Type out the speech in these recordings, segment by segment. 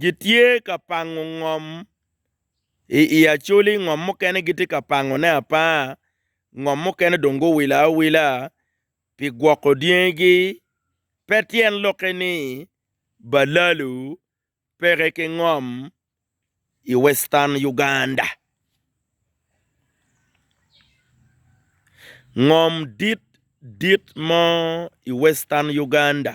Gitye ka pango ngom i i Acoli, ngom mukene gitye ka pangone apanga, ngom mukene dong guwilo awila pi gwoko dyengigi. Pe tyen lokke ni balalu peke ki ngom i Western Uganda. Ngom dit dit mo i Western Uganda.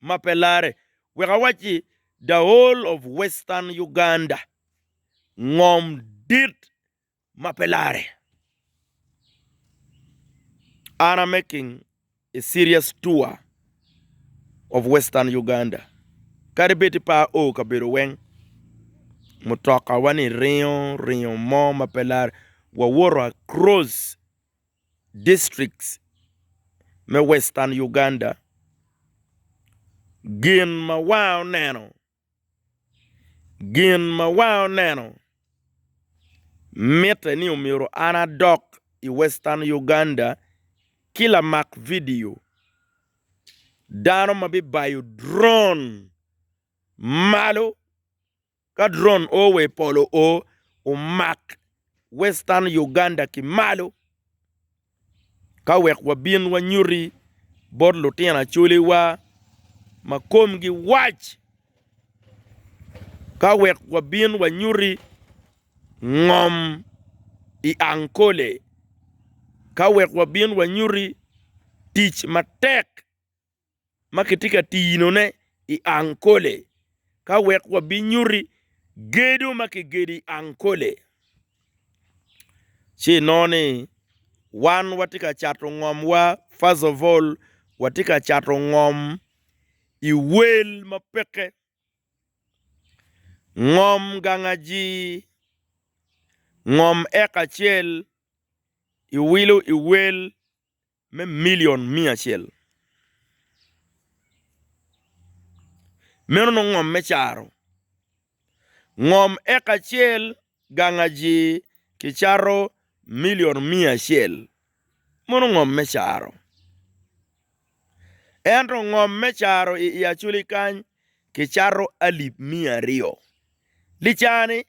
ma pe larre, wek awacci the whole of western Uganda, ngom dit ma pe larre. An a making a serious tour of western Uganda, kadi bed ni pe ao kabedo weng, mutoka wa ni ringo, ringo mo ma pe larre, wawoto across. districts me Western Uganda, gin ma wa oneno, gin ma wa oneno mitte ni omyero an adok i Western Uganda ki lamak vidio, dano ma bibayo drone malo. Ka drone o wa i polo o omak western Uganda ki malo ka wek wabin wanyuti bot lutino acoliwa ma komgi wac, ka wek wabin wanyuti ngom i Ankole, ka wek wabin wanyuti tic matek. ma kitye ka tinone i Ankole ka wek wabinyuti gedo ma kigedo i Ankole. Ci inongo ni wan watye ka cato ngomwa, first of all, watye ka cato ngom i wel ma peke, ngom gang ajii, ngom eka acel, iwilo i wel me milion miya acel. Meno nongo ngom me caro. Ngom eka acel gang aji kicato milion miya acel. Mono ngom me caro. Ento ngom me caro i Iaculi kany kicato alip miya aryo. Licani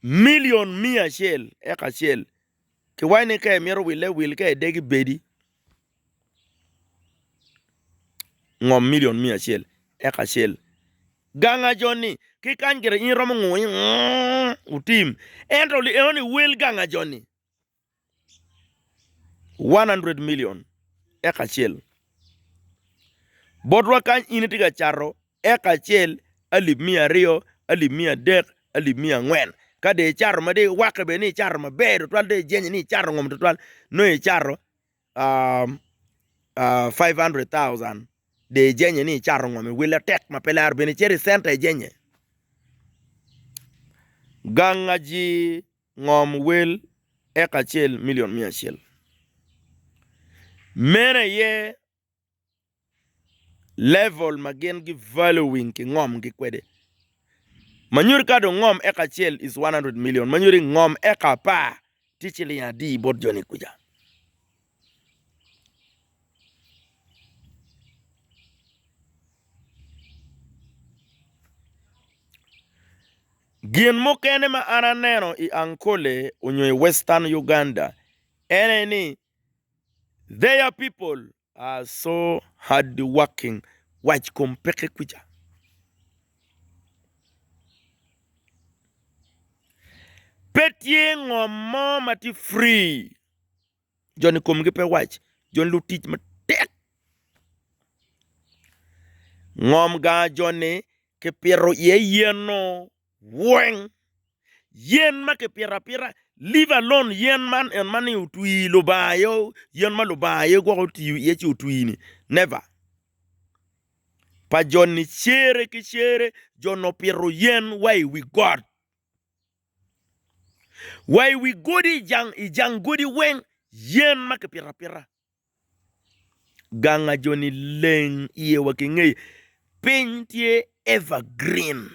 milion miya acel eka acel, ki waci ni ka imito wille wil ka idegi bedi ngom milion miya acel eka acel. Gang ajoni ki kany gire in iromo ngungo ni wutim, ento enoni wel gang ajoni. 100 milion eka acel. Botwa kany in itye ka cato eka acel, alip miya aryo, alip miya adek, alip miya angwen. Ka dong icato ma dong iwakke bene ni icato maber tutwal dong ijenye ni icato ngom tutwal nongo icato 500,000 dong ijenye ni icato ngom iwille atek ma pe laro bene icito i centa ijenye. Gangaji. ngom wel eka acel milion miya acel. Meno aye level ma gin gi valuing ki ngom gi kwede. Ma nyuto ka dong ngom eka acel is one hundred million ma nyuto ni ngom eka apar tye ciling adi bot joni kuca. Gin mukene ma an aneno i Ankole nyo i western Uganda ene ni their people are so hard working wac kom peke kuca pe tye ngom mo ma tye free. Joni komgi pe wac, joni lutic matek. Ngom gaa joni kipito iye yen-nu weng, yen ma kipito apita leave alone yen man en ma ni otwi Lubanga aye yen ma Lubanga aye gwok otiyo iye ci otwi-ni never. Pa joni cere ki cere joni opito yen wa i wi got. Wa i wi godi, i jang godi weng, yen ma kipito apita. Ganga jo-ni leng iye wa ki ngeye, piny tye evergreen.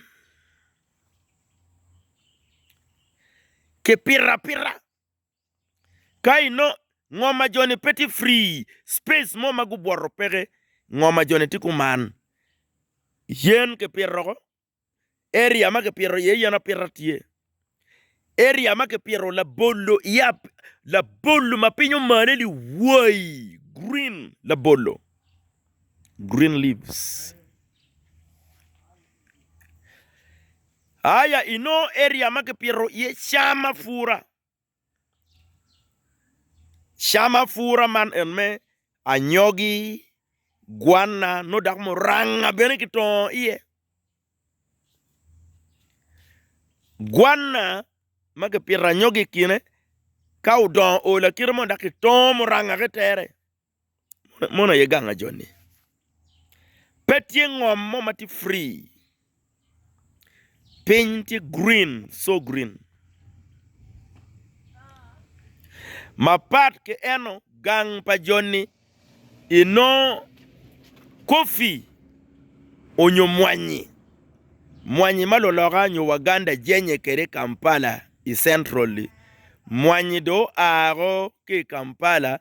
Kipito apita, ka inongo ngoma jo-ni pe tye free, space mo ma gubwoto peke, ngoma jo-ni tye kuman. Yen kipito woko, Area ma kipito iye yen apita tye. Area ma kipito labolo iye labolo ma piny omane ni wai green labolo green leaves aya inongo area ma kipito iye cam apura. Cam apura man en me anyogi, gwanna nongo dok muranga bene kitongo iye. Gwanna ma kipito anyogi i kine ka odongo oolo akita mono dok kitongo muranga ki tere. Mono aye ganga joni. Pe tye ngom mo ma tye free. Piny tye green, so green. Mapat ki eno gang pa joni inongo kofi onyo mwanyi, mwanyi ma luloka nyo waganda jenye kede i Kampala i central-li. Mwanyi dong oa ki i Kampala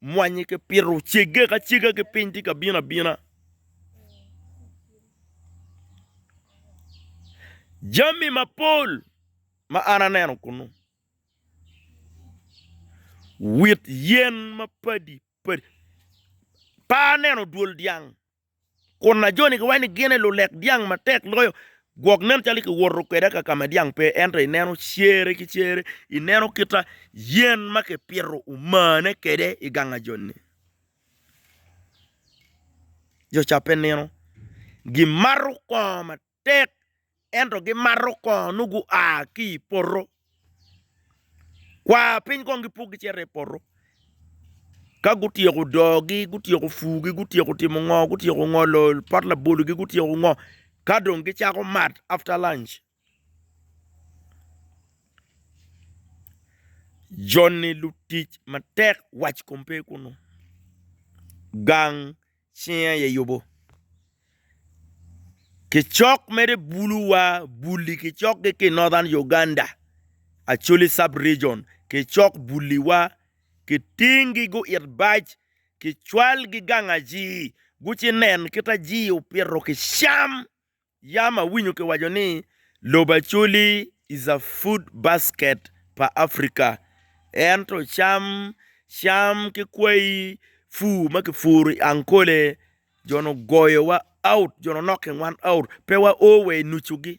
Mwanye ki pito cege ka cega ki piny tye ka bino abina. Jami mapol ma an aneno kunu, wit yen mapadi padi, pe aneno dwol dyang. kun ajoni ki waci ni gine lulek dyang matek loyo, gwok nen calo kiwoto kweda ka kama dyang pe, ento ineno cere ki cere, ineno kita yen ma kipito omane kwede i gang ajoni. Jo ca pe nino, gimato kongo matek. tek, ento gimato kongo nongo gua ki i poto, kwar piny kong gipuk gicito i poto. Ka gutyeko dogi, gutyeko pugi, gutyeko timo ngo, gutyeko ngolo pot labologi, gutyeko ngo, ka dong gicako mat after lunch. Joni lutic matek, wac kom pe kunu, gang. Cinge aye yubo kicok mere bulu wa bulli kicok gi ki northern Uganda Acholi sub region kicok bulli wa kiting gi gu it bac kicwal gi gang ajii guci nen kit ajii opito ki cam. Yam awinyo kiwaco ni lobo Acholi is a food basket pa Africa, ento cam, cam ki kwayi pur ma kipuro i Ankole jo-ni ogoyowa out, jo-ni onokki wan out, pe wao wa i nucugi.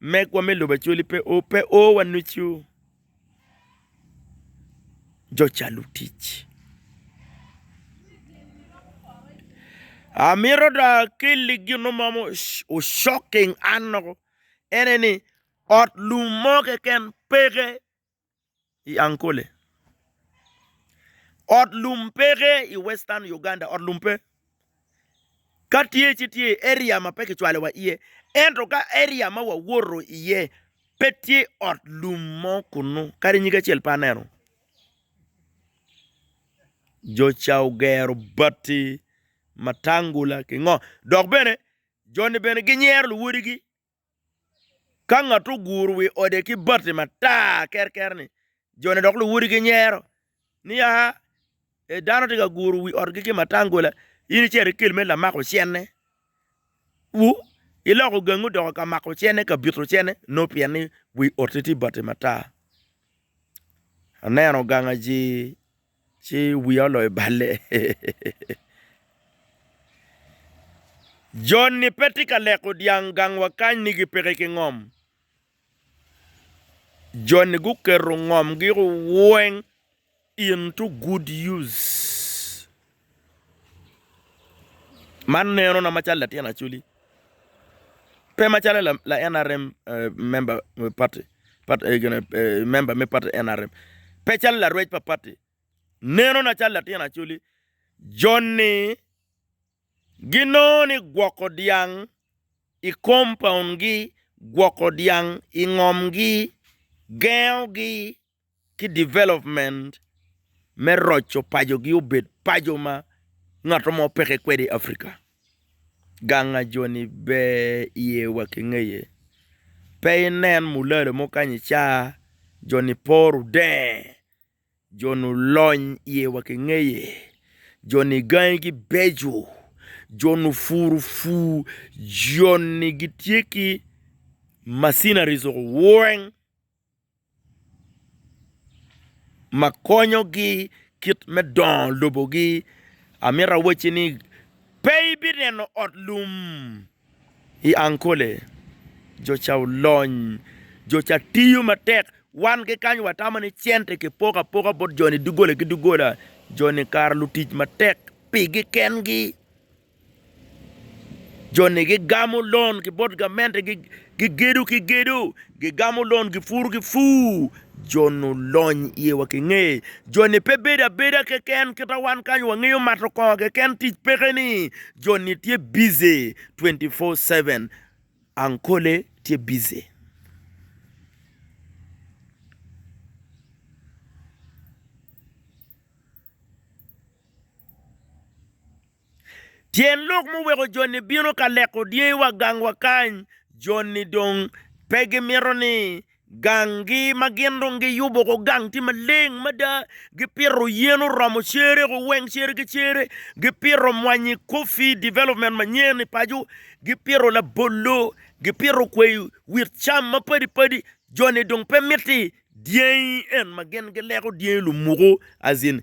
Megwa me lobo Acholi pe o, pe o wanucu jo calo tic. Amito do akelli gin mo ma ocoking an loko, ene ni ot lum mo keken peke i Ankole. Ot lum peke i Western Uganda, ot lum pe. Ka tye ci tye i area ma pe kicwalo wa iye. Ento ka area ma wawoto iye pe tye ot lum mo kunu, kadi nyig acel pe aneno. Jo ca ogero bati, matangula ki ngo. Dok bene joni bene ginyero luwodigi Ka ngat oguro wi ode ki bati matar kerker-ni, jone dok luwodi ginyero ni, 'Aa, e dano tye ka guro wi otgi ki matangula, in icito ikel me lamako cene, wu, iloko gangi odoko ka mako cene, ka bito cene, nongo pien ni wi otte tye bati matar. Aneno gangaji. Ci wiya oloyo balle. Joni pe tye ka leko dyang gang wa kany ni gipeke ki ngom. Joni guketo ngomgi weng into good use. Man nenona macalo latin Acholi pe macalo la NRM member me party member me party NRM pe calo larwec pa party nenona calo latin Acholi joni ginongo ni gwoko dyang i compound gi gwoko dyang i ngom gi gengo gi. ki development me roco paco gi obed paco ma ngato mo peke kwede i Africa. Gang a jo ni ber iye wa ki ngeye. Pe i nen mulalo mo kany i ca jo ni poro deng, jo ni olony iye wa ki ngeye, jo ni gangi gi beco, jo ni opuru pur, jo ni gitye ki macineries weng ma konyogi kit me dongo lobogi amito awacci ni pe ibineno ot lum i Ankole jo ca olony jo ca tiyo matek wan ki kany watamo ni cente kipoko apoka bot joni doggola ki doggola joni kara lutic matek pigi kengi. Joni gigamo lon ki bot gamente, gigedo ki gedo, gigamo lon, gipuro ki pur. Joni olony iye wa ki nge. Joni pe bedo abeda keken kita wan kany wangeyo mato kongo keken tic peke-ni, joni tye bici twenty four seven, ankole tye bici. Tyen lok muweko jo-ni bino ka leko dyangi wa gang wa kany, jo-ni dong pe gimito ni gang gi ma gin dong giyubo ko gang tye maleng mada, gipito yen oromo cere ko weng cere ki cere, gipito mwanyi coffee development manyen i paco, gipito labolo, gipito kwai wit cam mapadi padi, jo-ni dong pe miti dyangi en ma gin gileko dyangi lumuko as in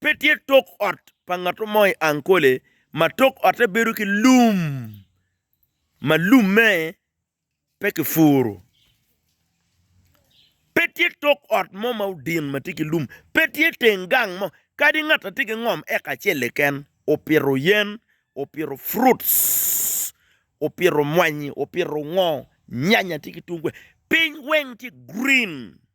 Pe tye tok ot pa ngat mo i Ankole ma tok otte bedo ki lum ma lumme pe kipuro. Pe tye tok ot mo ma odin ma tye ki lum. Pe tye teng gang mo kadi ngat a tye ki ngom eka acel keken opito yen, opito fruits, opito mwanyi, opito ngo, nyanya tye ki tungu. Piny weng tye green.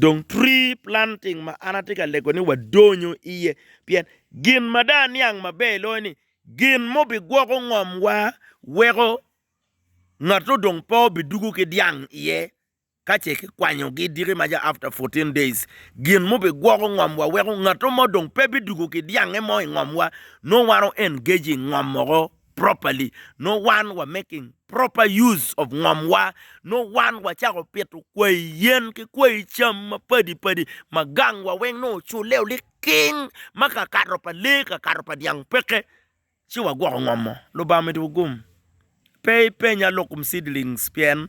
Dong pre-planting ma an atye ka lego ni wadonyo iye, pien gin ma dong aniang maber loyo ni gin ma obigwoko ngomwa weko ngat odong pe obidugo ki dyang iye ka ce kikwanyogi diki ma ca after fourteen days. Gin ma obigwoko ngomwa weko ngat mo dong pe bidugo ki dyangnge mo i ngomwa nongo wan o-engage i ngom woko. properly nongo wan wa making proper use of ngom wa nongo wan wa cako pito kwayi yen ki kwayi cam mapadi padi ma gang wa weng nongo ocule oliking ma kakato pa lee kakato pa dyang peke ci wa gwoko ngom mo lubanga omiti wu gum pe i penya lokum seedlings pien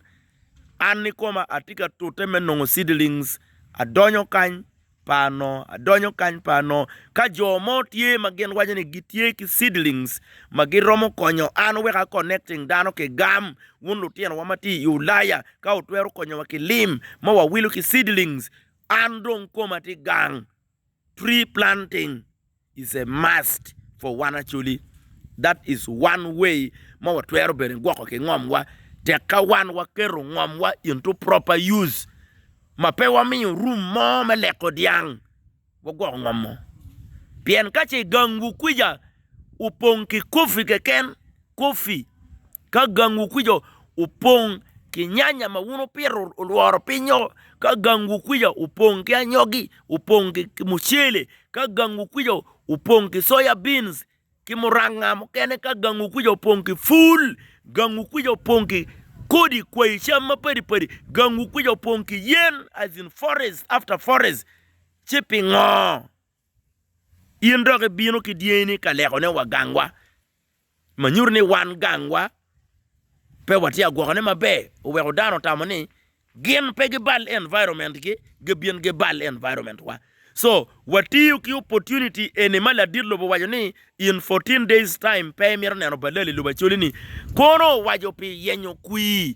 an ikoma atye ka tute me nongo seedlings adonyo kany. pa ano, adonyo kany pa ano. Ka jo mo tye ma gin waco ni gitye ki seedlings ma giromo konyo an wek a connecting dano ki gam, wun lutinowa ma tye i Ulaya, ka wutwero konyowa ki lim ma wawilo ki seedlings, an dong koma tye gang. Tree planting. is a must for wan Acholi, that is one way ma watwero bene gwoko ki ngom wa tek ka wan waketo ngom wa into proper use ma pe wamiyo room mo me leko dyang wagwoko ngom mo pien kace gang wu kwica opong ki coffee keken Coffee, Ka gangwu kwica opong ki nyanya ma wun wupito olworo pinyo, ka gangwu kwica opong ki anyogi, opong ki mucele, ka gangwu kwica opong ki soya beans ki muranga mukene, ka gangwu kwica opong ki pul, gangwu kwica opong ki kodi kwayi cam mapadi padi, gangwu kwica opong ki yen as in forest after forest, ci pingo? In dok ibino ki dyengini ka lekone wa gangwa, ma nyuto ni wan gangwa pe watye ka gwokone maber. Oweko dano otamo ni gin pe gibal environment-gi, gibin gibal environment-wa. So, watiyo ki opportunity eni ma ladit lobo owaco ni in fourteen days time pe imito neno balali lobo acoli-ni, kono owaco pi yenyo kwir